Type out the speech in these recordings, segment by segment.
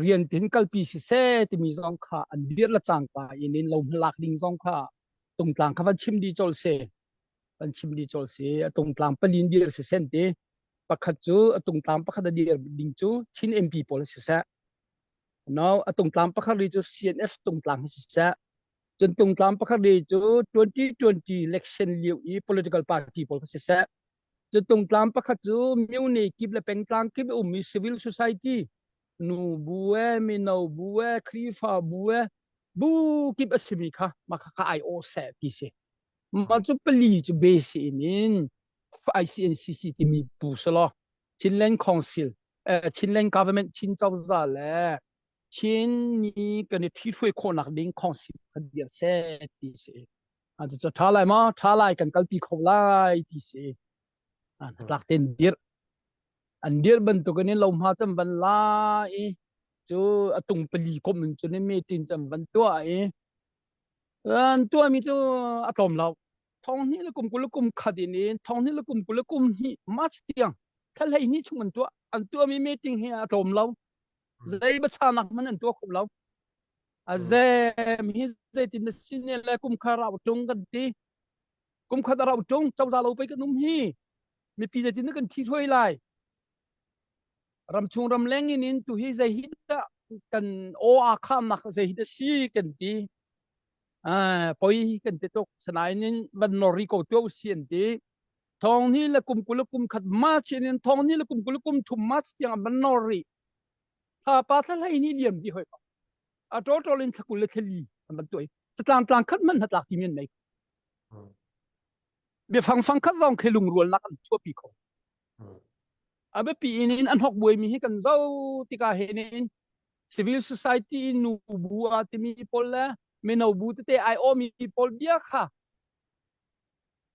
rian tin kalpi siseh timi zong kha an dir la cangka in in lo lak ding zong kha tungtlang kha van chim di chol se van chim di chol se a tungtlang palin dir se sen ti pakhat cu a tungtlang pakhat a dir ding cu chin MP pawl si se no a tungtlang pakhat ri cu CNF tungtlang si se cun tungtlang pakhat ri cu 2020 election liu i political party pawl si se Cu tungtlam pakhat cu Muni kip le pengtlang kip um i civil society nu bu e mino bu e khrifa bu e bu kip a simi kha mah kha ka ai aw seh ti si mah cu pali cu base in in ICNCC timi bu selaw Chinland Council eh, Chinland Government Chin Cozah le Chin ni kan i thi hruai khawhnak ding council kha bia seh ti si Ah, cucu ṭha lai maw? Ṭha lai kan kalpi kho lai ti si. Ah, hnatlak tein dirh. An dirh bantukin in lohma cam van la i cu a tung pali komh in cun in metin cam van tua i an tuami cu a tlawm lo. Thong hnih le kum kul le kum khat in in thong hnih le kum kul le kum hnih March tiang thlahlei ni chung an tuah. An tuami meting hi a tlawm lo. Zei bachannak hmanh an tuah kho lo. a zem hi zeitin na sin ne le kum kha rau tung kan ti kum khat a rau tung chawza lo pei kan um hi mipi zeitin na kan thi thuai lai ram chung ram leng in in tu hi zei hi da kan o a khamak zei hi da si kan ti ah poi kan te tok sanain in van nori ko tu sian ti thong ni le kum kul kum khat march in thong ni le kum kul kum thum march tiang van nori a pa thlahlai ni liam di hoi pa a tol tol in thlakul le thleli an ban tuai tlang tlang khat man hatlak ti men nei bia fang fang khat zong khe lung rual nak an chua pi kho abe pi in in an hok buai mi hi kan zo tika he ne in civil society in nu bu a timi pol le meno bu te te ai o mi pol bia kha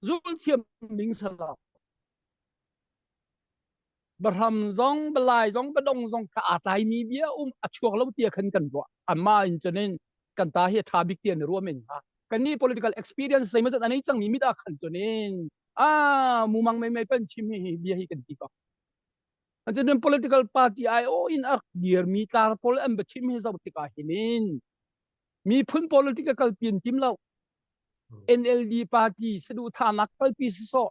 zul thiam ning sala Bahram zong, balai zong, badong zong ka aa tlaimi bia um a chuak lo tia khan kan ruah. Amma in cunin kan ta hi tha bik tia ni ruam in ha. Kan ni political experience sei mazat anei cang mi mit a khan cunin a mumang mai mai pan chim hi bia hi kan ti ko. An cunin political party ai o in a dir mi tlar pol an ba chim hi zau tika hinin mi phun political pin tim lo NLD party sadu thanak kalpi so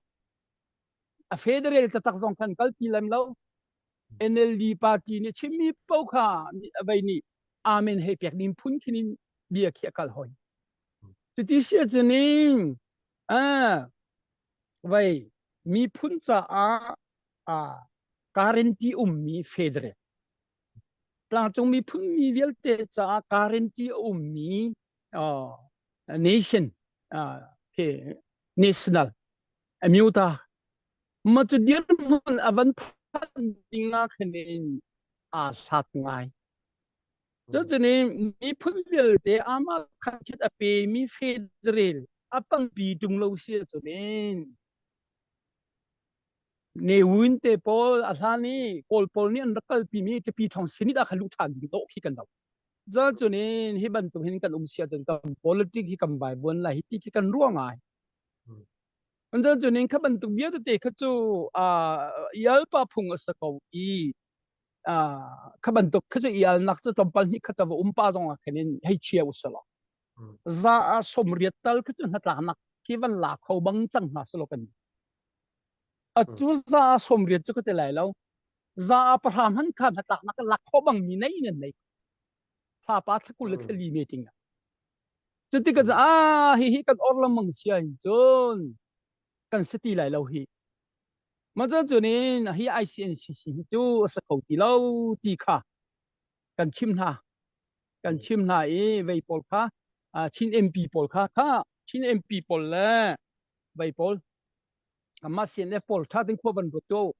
a federal tatak zong khan kalpi lem lo NLD party nih chimmi po kha a vei nih amen he pek nim phun khin in bia khi akal hoi cuti sia chuning ah vei mi phun caah a currently ummi federal tlangcung mi phun mi vialte caah currently ummi uh, nation uh, national a myu ta ma cu dirhmun a van phanh ding ah khan in aa sak ngai cucuni miphun vialte amah khatchet a pe mi federal a pangpi tung lo si cunin ne win te pawl a hlan i kawl pawl nih an rak kalpi mi tipi thong sinit a kha luh than ding to khi kan lo za cunin hi bantuk hin kan um sia cun kan politic hi kan vai buan lai hi ti khi kan ruang ai Andan cun in kha bantuk bia tete kha cu ialpa phung a si ko i kha bantuk kha cu ialnak cu tlawmpal hnih kha cawa um pa zong ah khin in hei chia usih law za a som riat tal kha cu hnatlanak khi van la kho bang cang hna silo kan atu za a som riat cu ka ti lai lo za a pahram han kha hnatlaknak la kho bang mi nei ngan nei fa pa thakul le thali meting Cuti ka caah hihi kan or lengmang sia in cun kan si ti lai lo hi. Mah cun in hi ICNCC hi cu a si kho ti lo ti kha kan chim hna. Kan chim hna i vei pawl kha Chin MP pawl kha kha Chin MP pawl le vei pawl kanmah CNF pawl ṭha ding khua van ruat tuah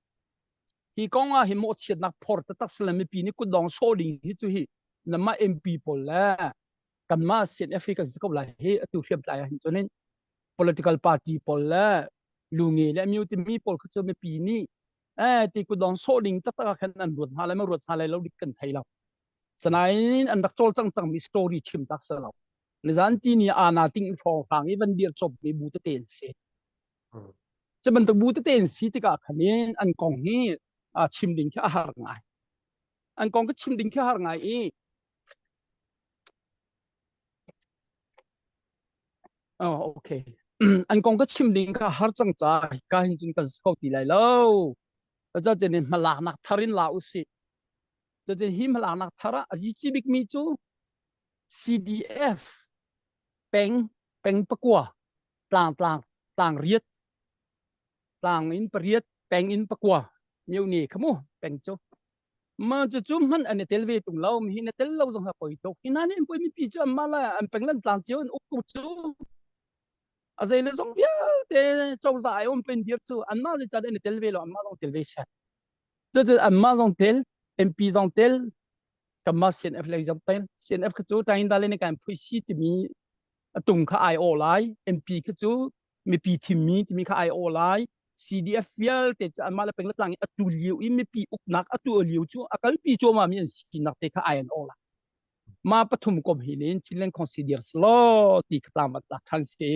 hi kong ah hi mawhchiatnak phor taktak si le mipi nih kutdong sawh ding hi cu hi namah MP pawl le kanmah CNFA kan si ko lai hi atu hriam tlai ah hin chunin political party pawl le lunge le myu timi pawl kha cu mipi nih eh ti kudong sawh ding taktak ah khan an ruat hna le ma ruat hna lai lo dik kan thei lo sanain an rak chol cang cang mi story chim tak sa lo nizan ti ni ana ting hrawng hang i van dir chop mi bu te te si Cu bantuk bu tete in si tikah khan in an kong hi aa chim ding khi a har ngai. An kong ka chim ding khi a har ngai i Oh, okay. An kong ka chim ding ka har cang ca ka hin cun kan si ko ti lai lo. Taca chen in hmalaknak thar in la u si. Taca hi hmalaknak thar ah a zici bik mi cu CDF peng peng pakua tlang tlang tlang riat tlang in pariat peng in pakua meu ne khamu peng chu ma chu chu man an tel ve tung lo mi na tel lo zong ha poi tok ina ne poi mi pi chu amma la an peng lan tlang chiu an uk ku chu a zei le zong vialte cho za ai om pen dir chu an ma ze chan an tel ve lo amma zong tel ve sat chu chu an ma zong tel mp zong tel kanmah CNF lei zong tain CNF kha cu tain da le ne kan phuisi timi atung kha ai aw lai MP kha cu mipi thimmi timi kha ai aw lai CDF vialte cu anmah le peng le tlang i atu liu i mipi uknak atu liu cu akalpi cuama mi an sinak te kha ai an aw lai ma pathum kom hi nin Chinland consider slo ti khatam at than si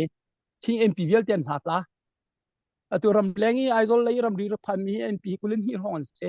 thing MP vialte an hna ta atu ram leng i Aizol lei ram ri ra phan mi MP kulin hi hong an si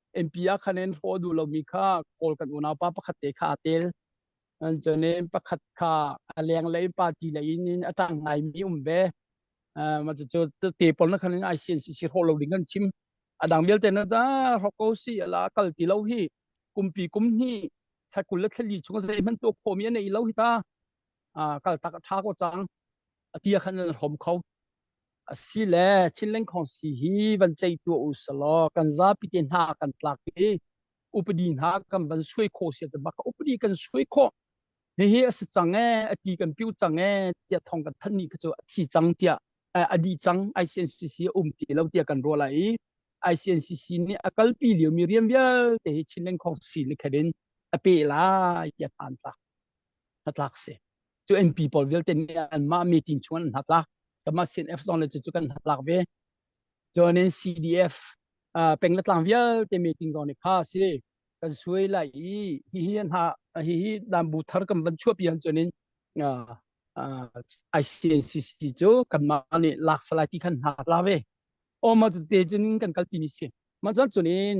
MP ah khan an hlaw duh lomi kha kawl kan unaupa pakhat te kha a tel an cun in pakhat kha a lenglei party lei in in a tang ngai mi um ve ma cu te pol na khan ai sin si si hlaw lo ding kan chim a dang vialte na da ro ko si ala kal ti lo hi kumpi kum ni thakul le thali chung zei man to khomi nei lo hi ta kal tak tha ko chang atia khan an rom kho Asile thilengkhong si hi van cei tuah u selaw kan zapi te hna kan tlak i upadi hna kan van suai khawh sia te bak upadi kan suai khawh hihi a si cang e a ti kan piu cang e tia thong kan than ni kha cu a thi cang tia a di cang ICNCC a um ti lo tia kan rual ai ICNCC nih a kalpi lio mi rian vialte hi Chin lengkhong si likherin a pe lai tia than tlak a tlak si cu MP pawl vialte nih anmah meeting chung an hnatlak kamah CNF zong le cu kan hnatlak ve cuanin CDF peng le tlang vialte meeting zong nih kha si kan suai lai i hihi hna hihi dambu thar kan van chuapi han cuanin ICNCC cu kanmah nih lak salai ti khan hna la ve o ma cu te cunin kan kalpi ni si ma cun cunin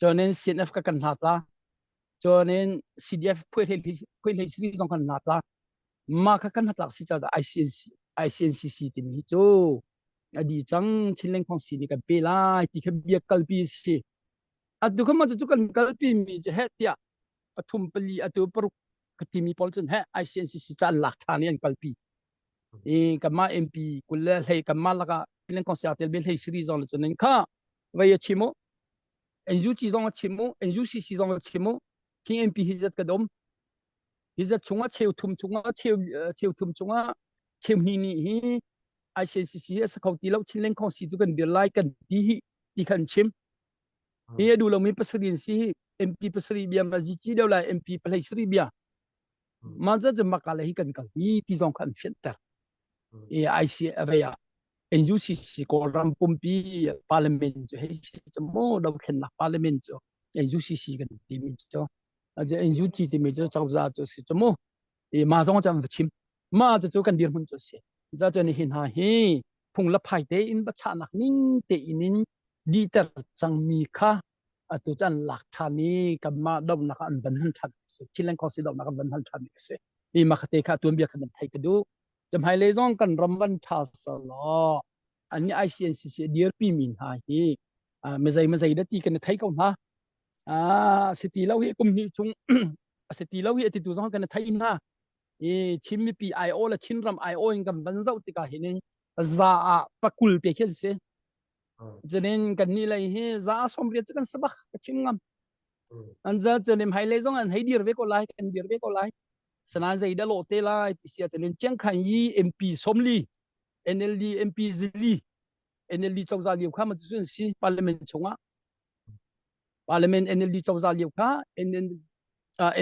Cuanin CNF ka kan hna ta. Cuanin CDF phuihlei sini zong kan hna ta. Mah kha kan hatlak si caah ICNC, ICNCC timi cu a di cang Chinleng Khong si nih kan pe lai ti kha bia kalpi si. A tu kha cu kan kalpi mi cu heh tiah pathum pali atu paruk ka timi pawl cun heh ICNCC caan lak ṭhan i an kalpi. i kanmah MP kul le hlei kanmah lakah Penang Council tel hlei siri zong le cunin kha vai a chim u NUG zong a chim u NUCC zong a chim u King MP hi zat ka dom hi zat chunga cheu thum chunga cheu cheu thum chunga cheu ni ni hi ICNCC a sakho ti lo Chinleng Council tu kan dir lai kan ti hi ti khan chim hi a du lo mi pasari si hi MP pasari bia ma ji chi deu lai MP palai sri bia mah cu cun maka le hi kan kal hi ti zong kha an fianter i ICRA ah NUCC Kawlram pumpi parliament cu hei si cu maw dothlennak parliament cu NUCC kan timi cu NUG timi cu cozah cu si cu mu i mah zong cu an va chim mah cu kan dirhmun cu si za cun hi hna hi phung le phai tein va chahnak ning tein in dihter cangmi kha atu cun lak ṭhan i kanmah dohnak ah an van hal ṭhan a si thileng khosi dohnak an van hal ṭhan a si mi makhate kha tuanbia kha nan theih ka duh jamhailei zong kan ram van ṭha selaw an nih ICNCC dirpi mi hna hi mazai mazai da ti kan thei ko hna a si ti lo hi kum hnih chung a si ti lo hi ati tu zong kan thei hna i chin mipi IO le chinram IO in kan van zoh tikah hi ning za ah pakul te khi an si Cunin kannih lei hi za sawmriat cu kan si bak ka chim ngam. An za cunin hmailei zong an hei dir ve ko lai, kan dir ve ko lai. Sanan zei dah lawh te lai ti sia cunin Chiang Kai yi MP somli, NLD MP zili, NLD cozah liu kha ma cu an si parliament chungah. Parliament NLD cozah liu kha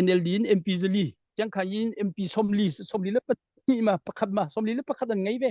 NLD in MP zili, Chiang Kai yi MP somli, somli le pahnih ma, pakhat ma, somli le pakhat an ngei ve.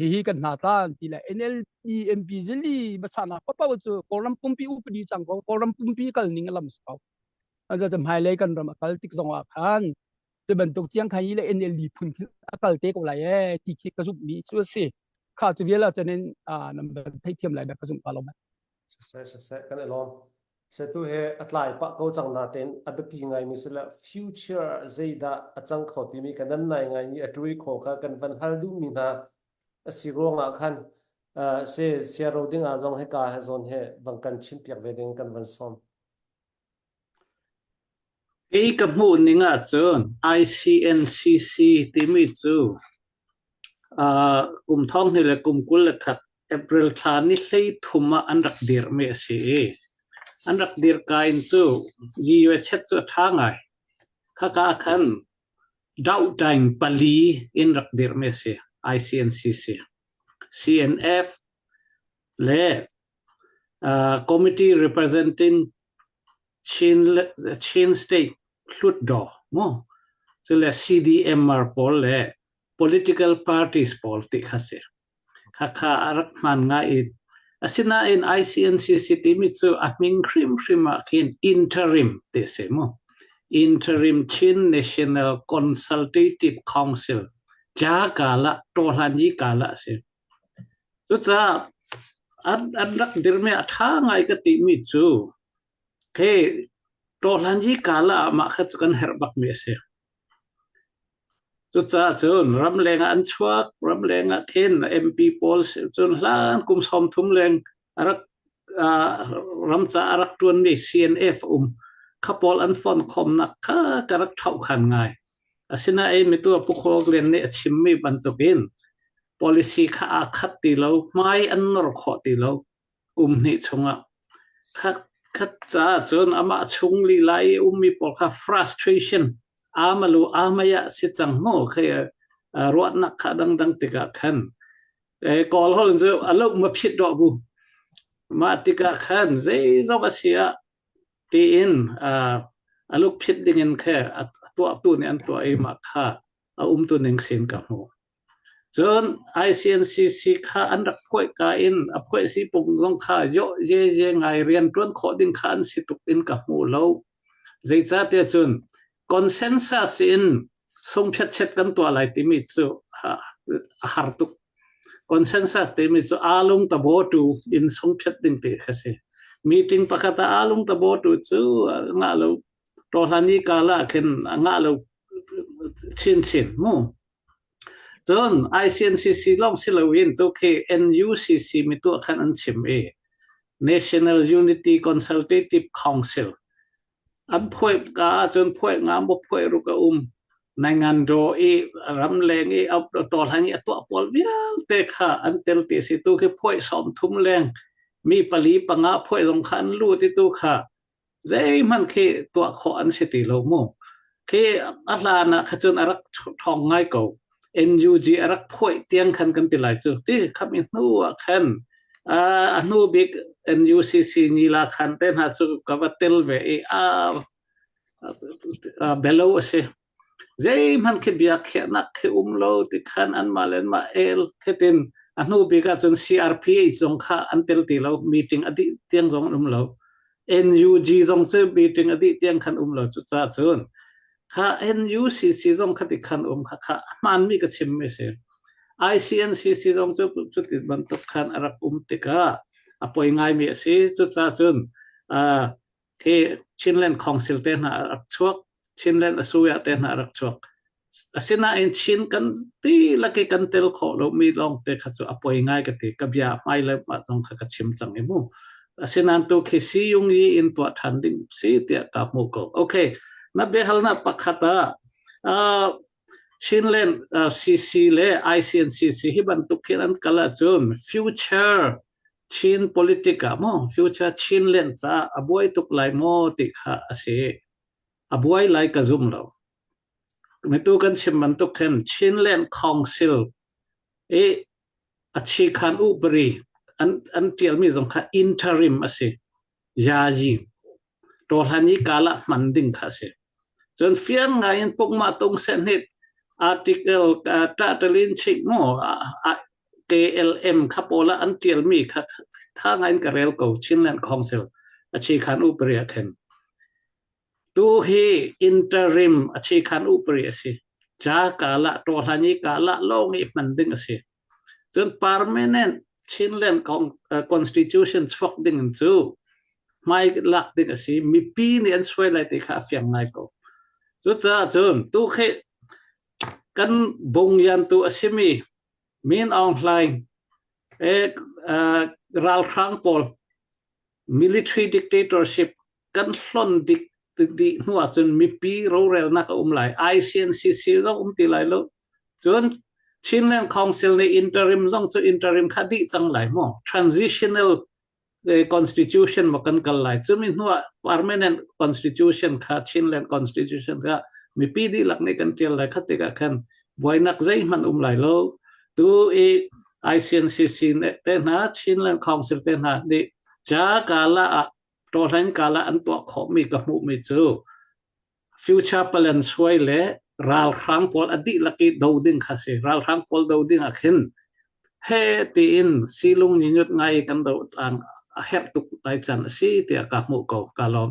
hihi kan hna tan ti le NLP MP zili bachana papa cu Kawlram pumpi upadi chang ko Kawlram pumpi kal ning alam so an za hmai lei kan ram akal tik zong ah khan te bantuk tiang khan ile NLD phun akal te ko lai e ti khi ka zup mi chu asi kha chu biala chanin nam ban thei thiam lai da ka zup ka lo Siseh, siseh, kan i lawm. Setu he a tlai pah ko cang natein a biapi ngaimi si le future zeidah a cang kho timi kan nan nai ngaimi a ṭui kho kha kan van hal duhmi hna a si ruangah khan uh, se share ro ding ah zong hika he zawn he bang kan chimpiak ve ding kan van sawm. Kei ka hmuh ning ahcun ICNCC timi cu aa kum thonghnih le kum kul le khat April thla ni hleithum ah an rak dirmi a si i an rak dirka in cu GUACHET cu a ṭha ngai. Khaka ahkhan Dauhtaing pali in rak dirmi a si, ICNCC. CNF, le committee representing Chin State Hlutdaw maw cule CDMR pawl le political parties pawl ti kha si khakha a rak hman ngai i asinain ICNCC timi cu a hming hrimhrim ah khin interim ti si mu interim Chin National Consultative Council ca kala tohlan yi kala si Cucaah an rak dirhmi a ṭha ngai ka timi cu khi ṭawhhlan hi kala ah mah kha cu kan herh bakmi a si. Cucaah cun ramleng ah an chuak, ramleng ah then MP pawl cun hlan kum sawm thum leng ram caah a rak ṭuanmi CNF a um. Kha pawl an fon khawmnak kha ka rak thauhkhan ngai. Asinain mitu Pu Khawl Glen nih a chimmi bantukin policy kha aa khat ti lo, hmai an nor khawh ti lo um hnih chungah. Kha khat caah cun amah chung lila i ummi pawl kha frustration amalu amaya si cang mu khay ruahnak kha dangdang tikah khan Eh, kawl hon cu aluk ma phit do bu mah tikah khan zeizong a sia tiin uh, aluk phit dingin khe atuah tu ni an tua i ma kha a um tu ning sin ka mu cun ICNCC kha an rak phoi ka in a phoi si pung zong kha yo je je ngai rian tuan kho ding kha an si tuk in ka mu lo Zeicahtiah cun consensus in sungphiatchet kan tuah lai timi cu a har tuk. Consensus timi cu aalung tabaw-tu in sungphiat ding ti kha si. Meeting pakhat ah aalung tabaw-tu cu ngah lo, rawhlan i kal ah khin ngah lo chinchin mu. Cun ICNCC lawng si loin tu khi NUCC mituah khan an chim i National Unity Consultative Council an phuah ka ahcun phuah nga maw phuah ruk a um Naingangdaw i Ramleng i Tawlhlang i a tuah pawl vialte kha an tel ti a si. Tu khi phuah sawm thum leng mi pali panga phuah zong kha an lut i tu kha zeihmanh khi tuah khawh an si ti lo mu. Khi a hlan ah kha a rak ṭhawng ngai ko. NUG a rak phuaih tiang khan kan ti lai cu. Ti kham i hnu ah khan a hnu bik NUCC nila khan te hna cu ka va tel ve i a belo a si. zeihmanh khi bia khiahnak khi um lo ti khan anmah le anmah el khitin a hnu bik ahcun CRPH zong kha an tel ti lo meeting a dih tiang zong an um lo NUG zong cu meeting a dih tiang khan um lo cucaah cun kha NUCC zong khati khan um kha kha hmaanmi ka chimmi a si ICNCC zong cu cuti bantuk khan a rak um tikah a poi ngaimi a si cucaah cun khi Chinland Council te hna a rak chuak, Chinland Asuya te hna a rak chuak. Asinain Chin kan ti lak i kan tel khawh lomi lawngte kha cu a poi ngai ka ti. Ka bia hmai le mah zong kha ka chim cang i mu. Asinain tu khi Siyung i in tuah ṭhan ding si tiah ka hmuh ko. Okay, na biahalnak pakhat ah uh, Chinland uh, CC le ICNCC hi bantuk khin an kal ahcun future Chin politic ah maw future Chin len caah a buai tuk lai maw ti kha a si. A buai lai ka zum lo. Mitu kan chim bantuk khin Chinland Council i a chi khan upari an, an tialmi zong kha interim a si. Yaji. Ṭawhhlan i kaa lah hman ding kha a si. Cun fiang ngaiin pukmah tung sehnit article title in chik maw KLM kha pawl ah an ṭialmi kha ṭha ngaiin ka rel ko Chinland Council a chi khan upari ah khin. Tu hi interim a chi khan upari a si. Ca kaa lah ṭawhhlan i kaa lah lawng i hman ding a si. Cun permanent Chinland constitution chuak ding in cu hmai lak ding a si. Mipi nih an suai lai ti kha a fiang ngai ko. Cucaah cun tu khi kan bungyantu a simi Min Aung Hlaing, ralhrang pawl military dictatorship kan hlon dik dih hnu ahcun mipi rorelnak a um lai ICNCC zong um ti lai lo cun Chinland Council nih interim zong cu interim kha dih cang lai mu transitional constitution ma kan kal lai cumi hnu ah permanent constitution kha Chinland constitution kha mipi dihlak nih kan tial lai kha tikah khan buainak zeihmanh um lai lo tu i ICNCC nih tehna Chin Land Council tehna nih ca kala ah tawhlan kala an tuah khawhmi ka hmuhmi cu future plan suai le ralhrang pawl a dihlak i do ding kha si ralhrang pawl do ding ah khin he tiin silung ni nyut ngai kan do tlang a herh tuk lai can a si tiah ka hmuh ko ka lawm